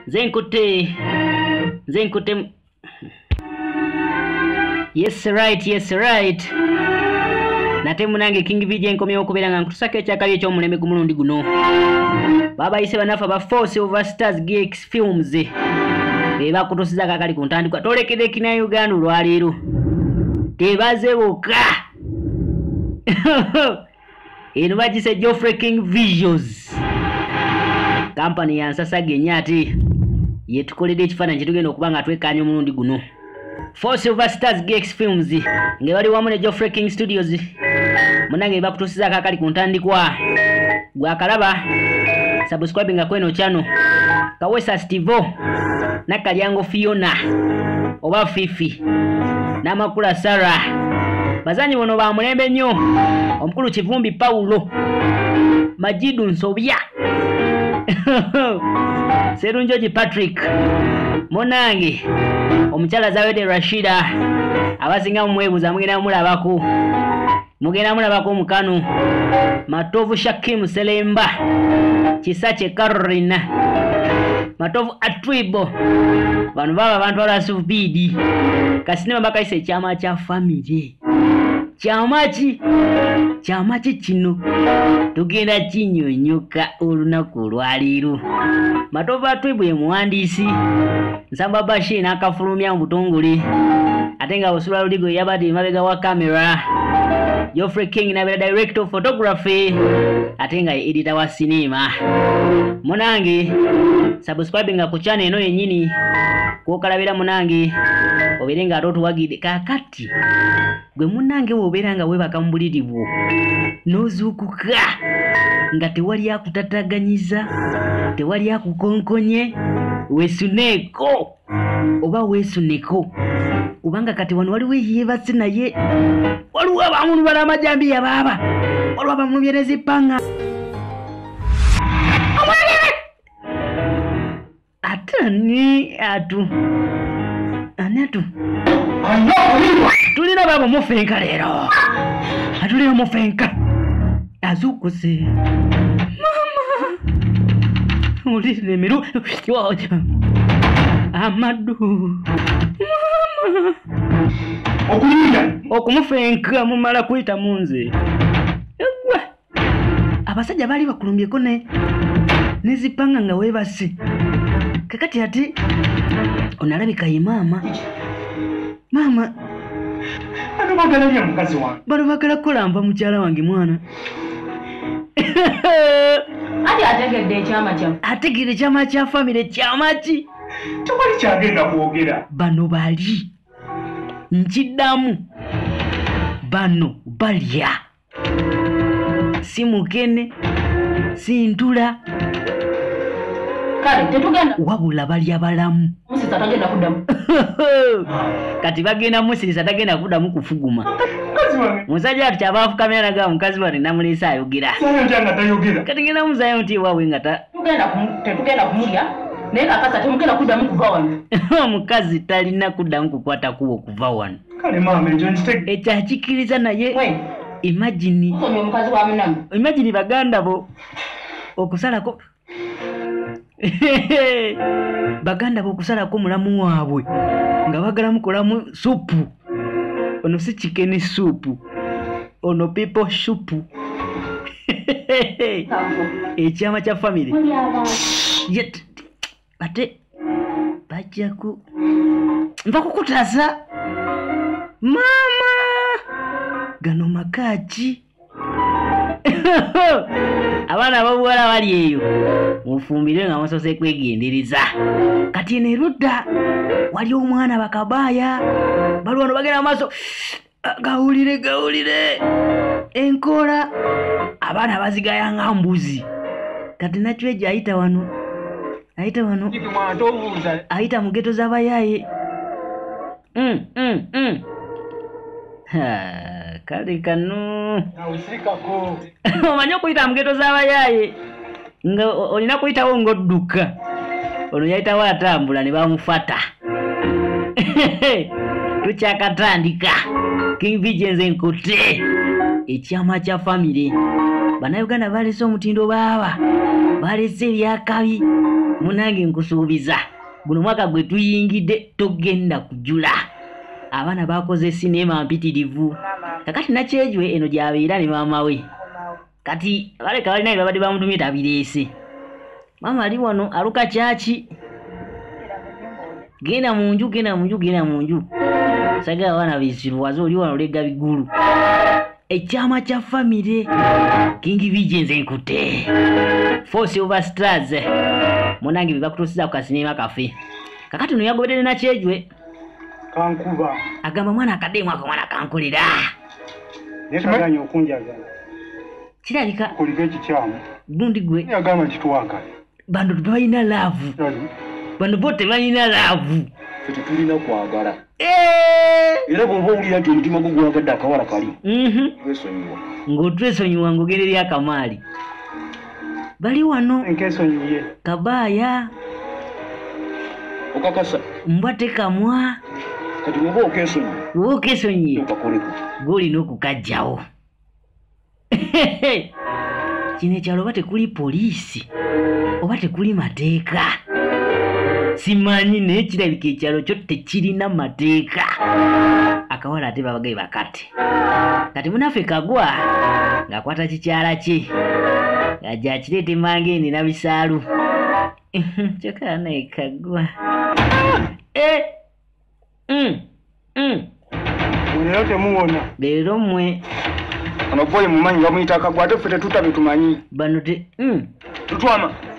nze nkutte nze nkutte yes right yes right nate munange king vj enkomyewo okubeera nga nkutusako ekyakabi ekyomulembe ku mulundi guno babayise banafa ba force over stars gx films bebakutusiza kakali ku ntandikwa tolekede kina uganda olwaleero tebaze boka eno bagise Geoffrey King Visions kampani ya nsasage nnyo ate yetukoledde ekifaananyi kyetugenda okuba nga twekaanya omulundi guno four silver stars gx films nga bali wamu ne Geoffrey King Studios munange bakutuusizaako akali ku ntandikwa gwakalaba subscribinga kweno channel kawesa stivo nakalyango fiona oba fifi namakula sara bazanyi bono bamulembe nnyo omukulu kivumbi pawulo majidu nsobya serunjoji patrick munange omukyala zawede rashida abasinga mumwebuza mugenda mulabako mugenda mulabako mukano matovu shakim selemba kisa kye karina matovu atribo bano baba abantu alasubidi kasinema bakayisa ekyama kya famire kyama ki kyama ki kino tugenda kinyonyoka olunaku olwaleero matovu atribo ye muwandiisi nsamba bashi n'akafulumya mu butongole ate nga busula ludigo yabadde emabega wa kamera geoffrey king nabeera direct of photography ate nga ye edita wa siniima munange subscribe nga ku chana eno yennyini kwokalabira munange obeere nga ate otuwagidde kakati gwe munange wobeera nga webaka mu buliri bwo n'ozuukuka nga tewali akutataganyiza tewali akukonkonye wesuneeko oba wesuneko kubanga kati wano waliwo eyeebase naye waliwo abamunubala amajambiya baaba waliwo abamunubyera ezippanga ate ani atu ani atu tulina baabo mufenka leero atulina mufenka azukuze ulirire miru amadu okumufenka mumala kuyita munze egwe abasajja baali bakulumbyeko ne nezipanga nga webasi kakati ati onalabika ye maama maama bano bagala kukola nva mukyala wange mwana ategedde ekyama kya famire kyamaki tewali kyagenda kwogera bano bali nkiddamu bano balya si mukene si ntula kale tetugenda wabula balya balamu musisa tagenda kudamu kati bagenda musisa tagenda kudamu kufuguma musajja ati kyaba afukamira naga mukazi wani namuleesa ayogera kati genda muzayo nti ewawe nga tetugenda kumulya naye kakasa temugenda kudamu kuva wano omukazi talina kudamu kukwata kuwa okuva wano kale maama ekyo nkitege ekyo akikkiriza naye imagini omukazi wa munamu imagini baganda bo okusalako baganda bo okusalako mulamu waabwe nga bagala mukolamu supu ono si kikeni supu ono pipo supu ekyama kya famiry ate bajjaku nva kukutaza maama gano makaaki abaana ababuwala bali eyo mufumbire nga musose kwegendereza kati eno erudda wali omwana bakabaaya balwano bagenda mu maaso gawulire gawulire enkoola abaana bazigaya nga mbuzi kati nakyo egyo ayita wano ayita wano ayita mu geto z'abayaaye mm, mm, mm. kale kano omanyi okuyita mu geto z'abayaaye nga olina kuyitawo ng'odduka ono yayitawo atambula ne bamufata tukyakatandika king vigens enkute ekyama kya famire bannayuganda balese omutindo baaba balese ebyakabi munange nkusuubiza guno mwaka gwe tuyingidde togenda kujula abaana bakoze sineema mpitirivu kakati nakyejwe eno gyabeera ne maama we kati baleka balina bye babadde bamutumye tabireese maama ali wano aluka kyaki genda mu nju genda mu nju genda mu nju sagala abaana beziruwaza oli wano olega bigulu ekyama kya famire kingi bije nze nkute four silver stars munange bye bakutuusiza ku kasinema kafe kakati no yagoberere nakyejwe kankuba agamba mwana akadeemu ako mwana kankulira nekaganya okunjagala kirabika kuliko ekikyamu gundi gwe yagamba nti twagala bano tebalina laavu bano bo tebalina laavu fe tetulina kwagala eh! era bwoba owulira nti omutima gwo gwagadde akawala kali mhm. twesonyiwa ng'otwesonyiwa ng'ogenda eri akamaali bali wano kabaaya okakasa mbwa tekamwa kati woba okesonyi woba okesonyi gwolina okukajjawo kino ekyalo oba tekuli poliisi oba tekuli mateeka simanyi naye kirabika ekyalo kyo tekirina mateeka akawala ate babagaye bakati kati munaffe kagwa ng'akwata kikyala kye ng'ajja akireeta emangeeni na bisaalu kyokka naye kagwa eh, mm, mm. leero temuwona leero mmwe ono boyi mumanyi bamuyita kagwa ate ffe tetuta bye tumanyi bano te mm. tutwama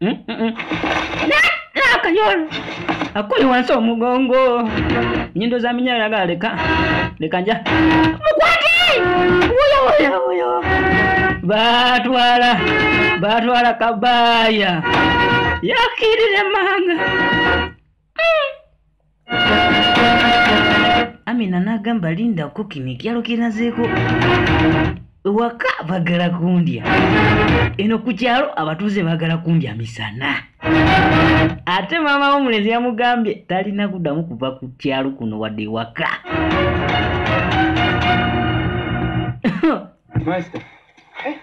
Mm, mm, mm. nakanyolo akuli wansi omugongo nyindo za minyalo laga leka leka nja mukwati wuyo wuyo wuyo batwala batwala kabaya yakirire manga amina n'agamba linda kukino ekyalo kyenazeeko ewaka bagala kundya eno ku kyalo abatuuze bagala kundya misana ate maama w'omulenzi yamugambye talina kuddamu kuva ku kyalo kuno wadde ewaka Eh,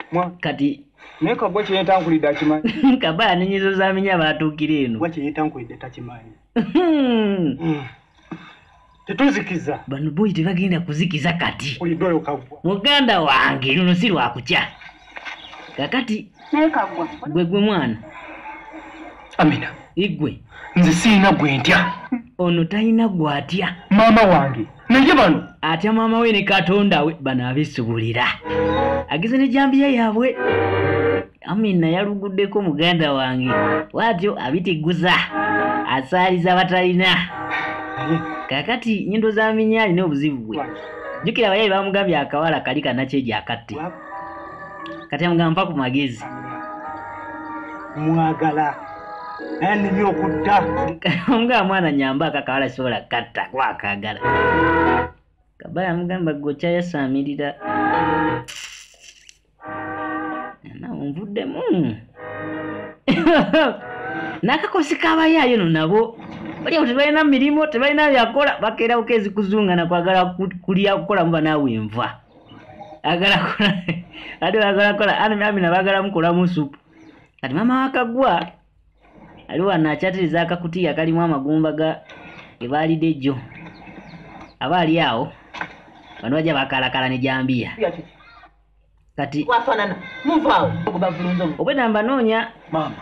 kati naye kabwa kyeyetankulidde akimanyi kabaya nenyizo zaminya batuukira eno wa kyeyetankulidde takimanyi hmm. hmm. tetuzikiza bano boyi tebagenda kuzikiza kati oyidoyo kabwa muganda wange luno si lwakukya kakati naye kabwa gwe gwe mwana amina igwe nze sirina gwe ntya ono talina gwatya maama wange naye bano atya maama we ne katonda we bano abisubulira ageze ne jambiya yaabwe amina yaluguddeko muganda wange watyo abitiguza asaaliza batalina kakati nyindo za minya alina obuzibu bwe jjukira abayayi bamugambye akawala kali kanakyejo akatti kati amugamba mpa ku magezi mwagala enimye okutta omugamba mwana nyamba akakawala sisobola katta kuba akagala kabala amugamba gwekyayasaamirira nvuddemu nakakosi kabayaayo no nabo olya ku tebalina mirimu tebalina byakola bakeera bukeezi kuzunga nakwagala kulya kukolamu banaawe nva agala kola ate bagala kola ani amina bagala mukola musupu kati mama wakagwa ali wano akyatiriza akakutiya kalimu amagumba ga ebaalide jjo aba ali awo bano bajja bakalakala ne jambiya kati wafanana muvaawo ogubavulunza obwedda mbanoonya maama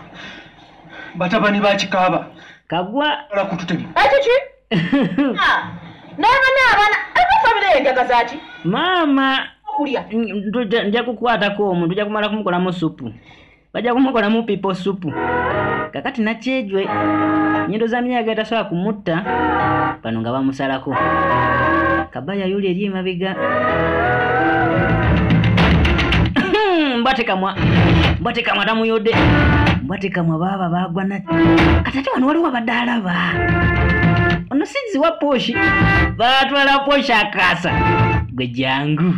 batabani bakikaaba kagwa ala kututema ekiki Ah, naye bana abana aba famire ye njaga zaki maama okulya mm, tuja- nja kukwatako omu tuja kumala kumukolamu supu bajja kumukolamu pipo supu kakati nakyejwe nyindo za minyaga etasobola kumutta bano nga bamusalako aba yayuli eri emabega hmm, mbatekamwa mbatekamwa tamuyode mbatekamwa baaba bagwa na kati ate wano waliwo abadde alaba ono sinzi wa poshi batwala poshi akasa gwe jangu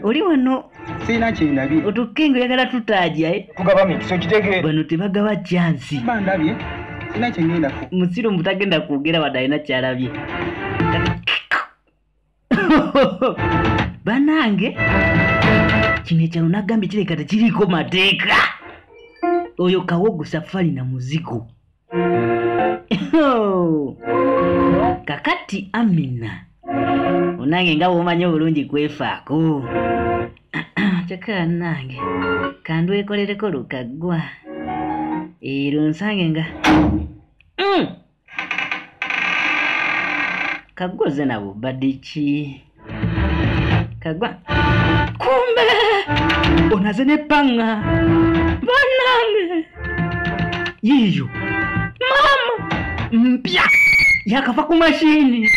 oli wano sirina kyendabye otukinga oyagala tutaja eh? tugaba mikisa okitege bano tebagaba kyansi bandabye sirina kyengendako musiru mbu tagenda kwogera wadde alina kyalabye banange kino ekyalo nagambye kireka tekiriiko mateeka oyo kawogo safari na muzigo Oh. kakati amina onange nga womanyi obulungi kwefaako kyokka nange kandwekolereko lukaggwa ero nsange nga mm. kaggwa oze nabubadiki kagwa kumbe onaze ne panga banange yiyo mama mpya yakava ku mashini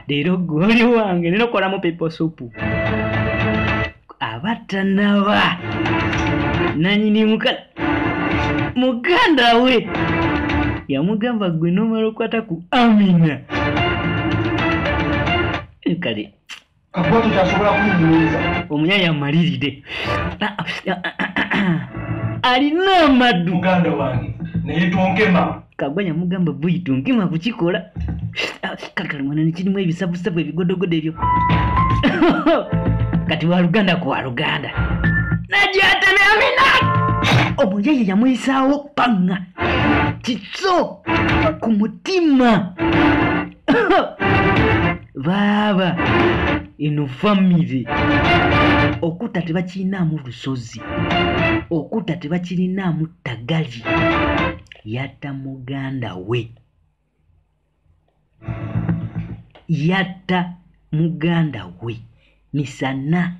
leero goli wange nenokola mu pepo supu aba tanaba nanyini muka muganda we yamugamba gwe nomala okwata ku amina kale kakwati kyasobola kuyimuliza omunyanya amaliride alina amadu muganda wange naye tonkema kagwa yamugamba buido ngima kukikola Ah, kati kali mwana nekirimu ebisabusabu ebigodogodo ebyo kati waluganda ku waluganda najatemeamina omuyaye yamuyisaawo panga kiso ku mutima baaba eno famire okutta tebakirinaamu lusozi okutta tebakirinaamu ttagali yatta muganda we yatta muganda we misana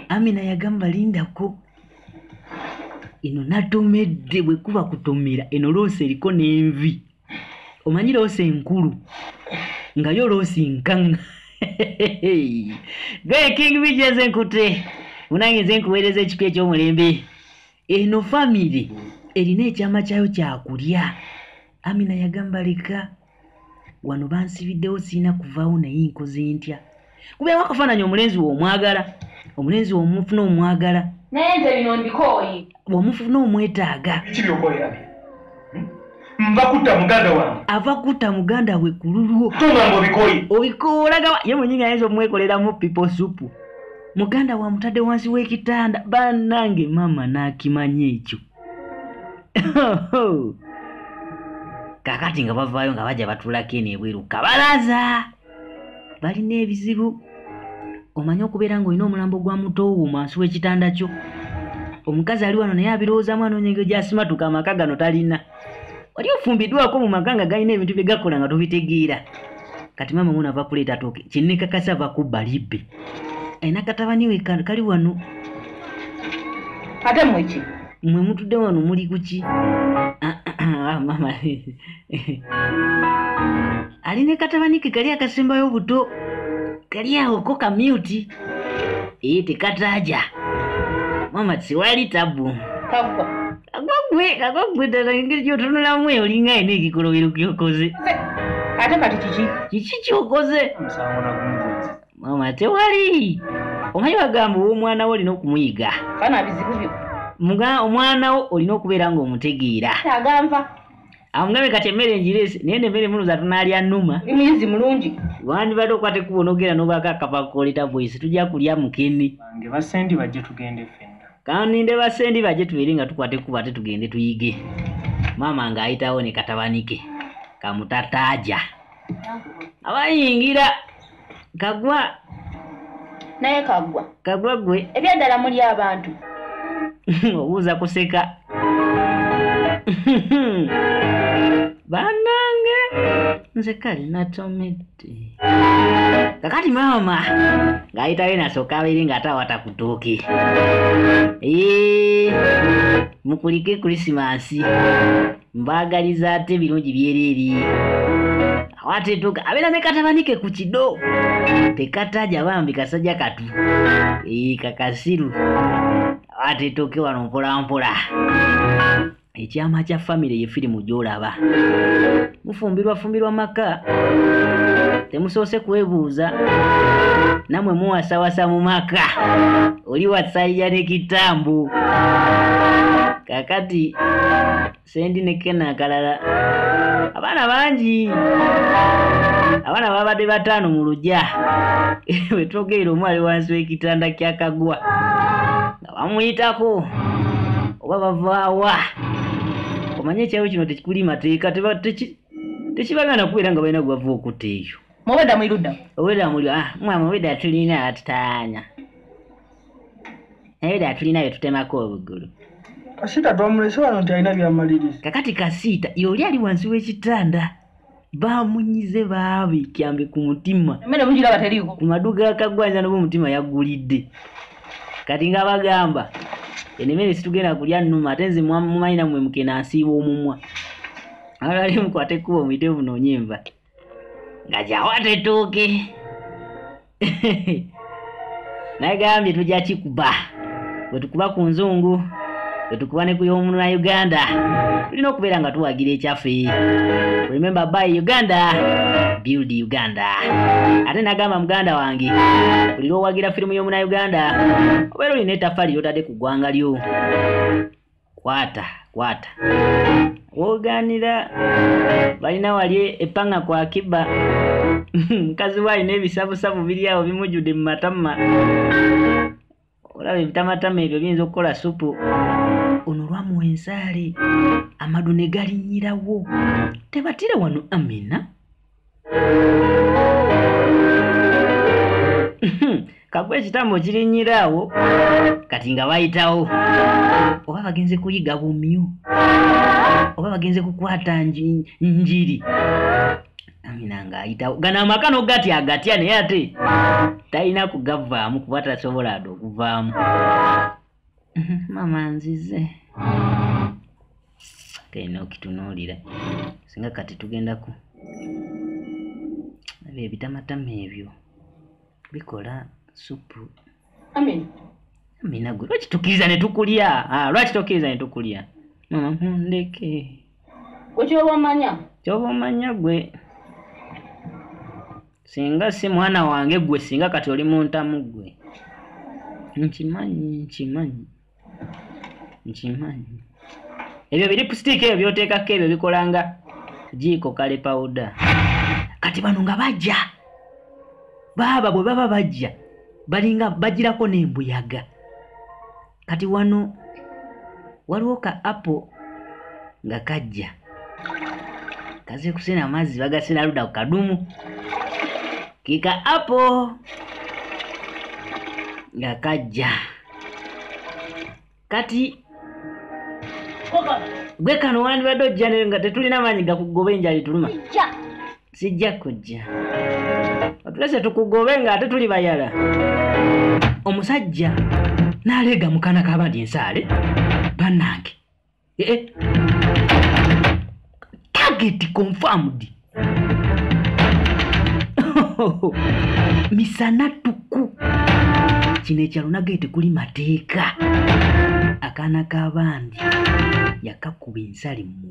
amina yagamba lindako eno natomedde bwekuba kutomera eno loosi eriko n'envi omanyi loosi enkulu nga yo loosi nkaŋŋa gwe king bigi eze nkute munange nze nkuweereza ekipya ekyomulembe eno famiry erina ekyama kyayo kyakulya amina yagamba leka wano bansibiddewo sirina kuvaawo naye nkoze ntya kubeewo akafaananyi omulenzi we omwagala omulenzi we omufuna omwagala naye nze bino ndikooyi omufuna omwetaaga ki byokolera bye nva kutta muganda wange ava kutta muganda we ku lulwo tongamba obikoyi obikooraga ye mwenyini ayinza omwekoleramu pipo supu muganda wa mutadde wansi w'ekitanda banange maama n'akimanya ekyo kakati nga bavaayo nga bajja batulako eno ebweru kabalaza balina ebizibu omanyi okubeera ng'olina omulambo gwa muto wo mwansi w'ekitanda kyo omukazi ali wano naye abirowoozamu anoonya engeri gyasimatuka amaka gano talina wali ofumbiddwako mu maka nga galina ebintu bye gakola nga tobitegeera kati maama wona ava kuleeta tooke kinnekakasa ava kubba libbe alina katabani we kali wano ate mweki mwe mutudde wano muli kuki ah, ah, ah, maama ali ne katabani ke kali akasembayo obuto kali awo ko kamyuti ee tekataaja mama tewali tabu kagwa kagwa gwe kagwa gwe ddala engeri gyotunulamu eyo olinga yena ekikolobero kyokoze ate kati kiki kiki kyokoze omusango nagumbunzi mama tewali omanyi bagamba ow'omwana wo olina okumuyiga fana bizibu byo Muga- omwana wo olina okubeera ng'omutegeera aganva amugambye kati emmere njirese naye no emmere muloza tunalya numa ndi muyizi mulungi wandibadde okwata ekkubo nogera nobaako akava koleta voice tujja kulya mukene bange basendi bajje tugende fenna kaninde basendi bajje tubeere nga tukwata ekkubo ate tugende tuyige maama ng'ayitawo ne katabanike kamutataja abayingira kagwa naye kagwa kagwa gwe ebyaddala muli abantu obuuza kuseka banange nze kale natomedde kakati maama ng'ayitayo nasooka abeere ng'ate awata ku ttooke mukulike krisimansi mbaagaliza ate ebirungi byereeri awo ate tuga abeera ne katabanike ku kido tekataja bambi kasajja katu ee kakasiru awo ate tuke wano mpolampola ekyama kya famire ye firimu gy'olaba mufumbirwafumbirwa maka temusoose kwebuuza namwe muwasawasa mu maka oli wasayya ne kitambu kakati sendi ne kena akalala abaana bangi abaana babadde bataano mu lugya wetwogeera omu ali wansi w'ekitanda kyakagwa nga bamuyitako oba bavaawa omanye ekyalo kino tekikuli mateeka tekibagana kubeera nga balina gwebava okutta eyo Mubeda mwiruda. Obeda muli ah mwa mubeda tulina atutanya. Naye da tulina yetutema ko obugulu. Kasita twamulese wano nti alina byamaliriza. Kakati kasita yoli ali wansi w'ekitanda. Bamunyize baabi kyambe ku mutima. Mmere mujira bataliiko. Ku maduga akagwanya n'obu mutima yagulidde. Kati nga bagamba enemere situgenda kulya nnuma ate nze mumanyi namwe mukena nsiiba omumwa. Alali mukwate kubo mwite bunonye mba. nga kyawatetooke nagambye tujja kikuba bwetukuba ku nzungu bwetukuba ne kuyomununa uganda tulina okubeera nga tuwagira ekyaffe remember by uganda build uganda ate nagamba muganda wange buli lwowagira firimu yomuna uganda obeera olina etafali lyotadde ku ggwanga lyo kwata kwata woganira balina wali epanga kwa kiba mukazi we alina ebisabusabu biri awo bimujjudde mu matama olaba ebitamatama ebyo biyinza okukola supu ono lwamuwa ensaali amadu ne galinnyirawo tebatire wano amina kakuba ekitambo kirinyira awo kati nga bayitawo oba bagenze kuyiga bumyu oba bagenze kukwata njiri amina ng'ayitawo gano amaka nogatya agatya naye ate talina kugavaamu kuba tasobola ade okuvaamu maama nzize kena okitunuulira singa kati tugendaku ebyo ebitamatama ebyo bikola supu amina gwe lwaki tukkiriza ne tukulya ah, lwaki tokkiriza ne tukulya mama mundeke gwe kyoba omanya kyoba omanya gwe singa si mwana wange gwe singa kati oli muntamu gwe nkimanyi nkimanyi nkimanyi ebyo biripusitiika ebyo byoteekako ebyo bikolanga jiiko kale pawuda kati bano nga bajja baaba bwe baba bajja balinga bagirako n'embuyaga kati wano waliwo ka apo nga kajja kaze kusena amazzi bagasena luda ku kadumu kika apo nga kajja kati gwe kano wandibadde ojja nayo nga tetulina maanyi gakugoba enjala etuluma sijja kujja otulese tukugobe nga ate tuli bayala omusajja n'aleega mukana kaba nti ensaale bannange ee eh, eh. tageti confirmed misana tuku kino ekyalo nagaye tekuli mateeka akaana k'abandi yakakuba ensali mu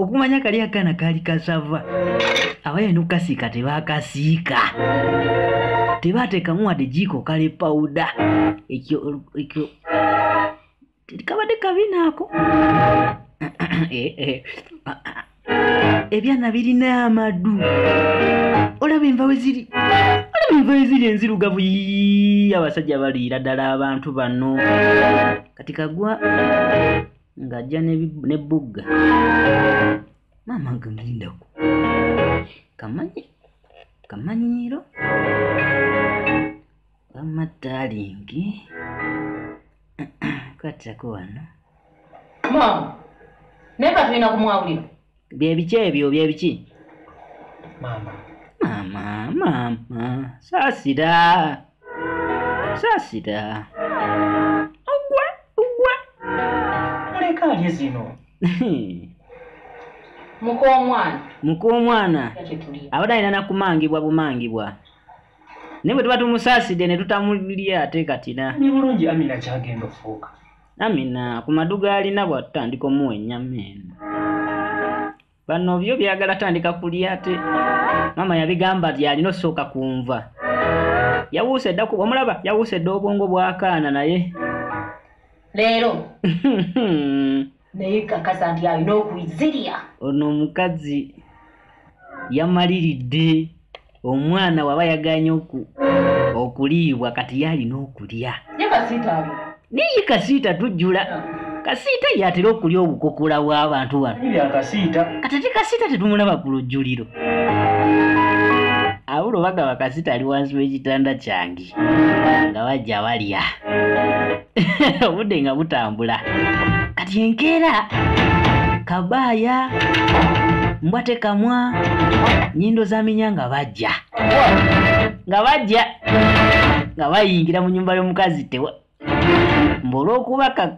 okumanya kali akana kali kasava abaye nokukasiika tebakasiika tebateekamu wadde jiiko kale pawuda ekyo ekyo kabadde kabina ako eh, eh. ebyana birina amadu olaba enva weziri olaba enva weziri enzirugavu abasajja baliira ddala abantu bano kati kagwa ng'ajja ne bugga maama ngamulindako kamanyi kamanyiiro wamma taalingi kwatako wano maama naye katulina kumwawulira bye biki ebyo bye biki maama maama maama saasira saasira ogwa ogwa muleka alye zino muka omwana muka omwana abadde alina nakumangibwa bumangibwa naye bwe tuba tumusaasidde ne tutamulya ate katina ni bulungi amina kyagenda ofuuka Amina ku madu gaalina bw'atutandika omuwa ennyama eno bano byo byagala tandika kulya ate maama yabigamba byalina osooka kunva yawuuse dda kuba omulaba yawuuse dda obwongo bwakaana naye leero naye kakasa nti alina okuzirya ono omukazi yamaliridde omwana waba yaganye okuliibwa kati yalina okulya naye kasiita tujjula kasiita yatera okulya obukokola bw'abantu bano kati ate kasiita tetumulaba ku lujjuliro awulo bagaba kasiita ali wansi w'ekitanda kyange bulungi nga bajja balya obudde nga butambula kati enkeera kabaaya mbwa tekamwa nyindo zaminya nga bajja nga bajja nga bayingira mu nyumba y'omukazi tewa mbu olwokuba ka-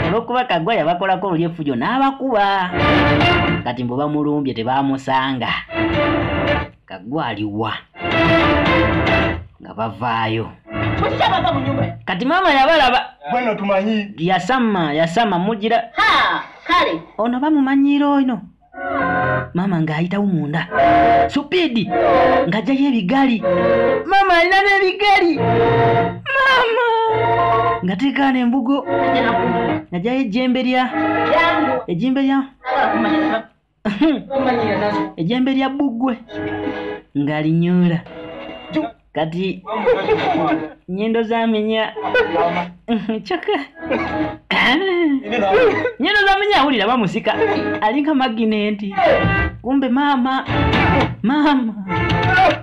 olwokuba kagwa yabakolako luli effujo n'abakuba kati mbu bamulumbye tebaamusanga kagwa aliwa nga bavaayo Mukyabava mu nyumba. kati maama yabalaba Bweno tumanyi. yasama yasama mugira Ha, kale. ono bamumanyiira ono maama ng'ayitawo munda supiidi ng'ajjayo ebigali maama alina n'ebigali maama nga teekaana embugo najayo ejjembe lya ejjembe lya ejjembe lya bbuggwe ng'alinyoola kati nyindo zaminya kyokka nyindo zaminya awulira bamusika alinga maginenti kumbe maama maama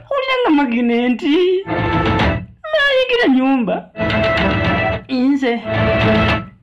awulira nga maginenti nayigira nyumba inze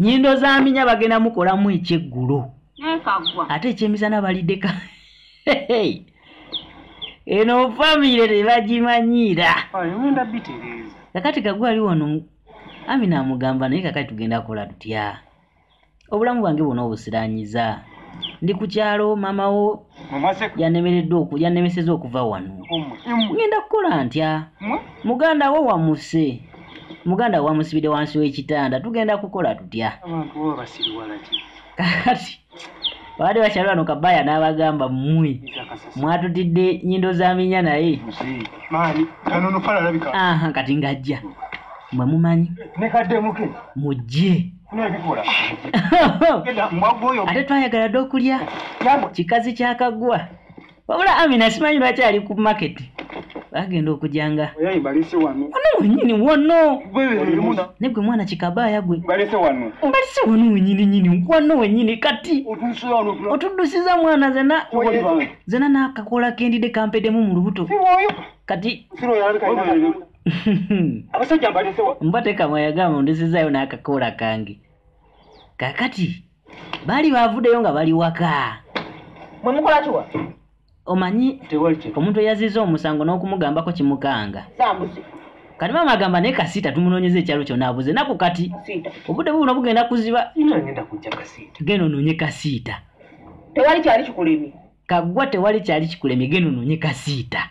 nyindo zaminya bagenda mukolamu ekyeggulo ate ekyemisana balideka eno famire tebagimanyiira kakati kagwe ali wano ami namugamba naye kakati tugenda kola tutya obulamu bwange bwona obusiranyiza ndi ku kyalo mamawo yanemeredde oku yanemeseza okuva wano ngenda kukola ntya muganda wo wamuse muganda wo wamusibide wansi w'ekitanda tugenda kukola tutya kakati baali bakyali wano kabaya n'abagamba mmwe mwatutidde nyindo za minya naye kati ngajja mwe mumanyi mujje ate twayagala dde okulya kikazi kyakagwa wabula amina simanyi lwaki ali ku market bagenda okujanga ono wenyini wano ne gwe mwana kikabaaya gwe mbalise wano wenyini nyini wano wenyini kati otuddusiza mwana zena zena nakakola kendide kampedemu mu lubuto kati abasajja mbalesewa mbatekamwe yagamba ndisizayo n'akakoola kange kakati baali baavuddeyo nga bali waka mwe mukola kiwa omanyi omuntu eyaziza omusango n'okumugambako kimukanga kati maama agamba naye kasiita tumunoonyeza ekyalo kyona abuze naku kati obudde bubuno bugenda kuziba genda onoonye kasiita tewali kyali kikulemye kagwa tewali kyali kikulemye genda ononye kasiita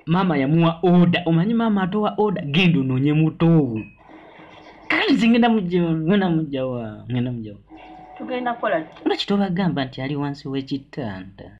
maama yamuwa oda omanyi maama atowa oda genda ononye mutoowu kalinzi ngenda mujngenda mujawa ngenda mujawa tugenda kola nga kitobagamba nti ali wansi w'ekitanda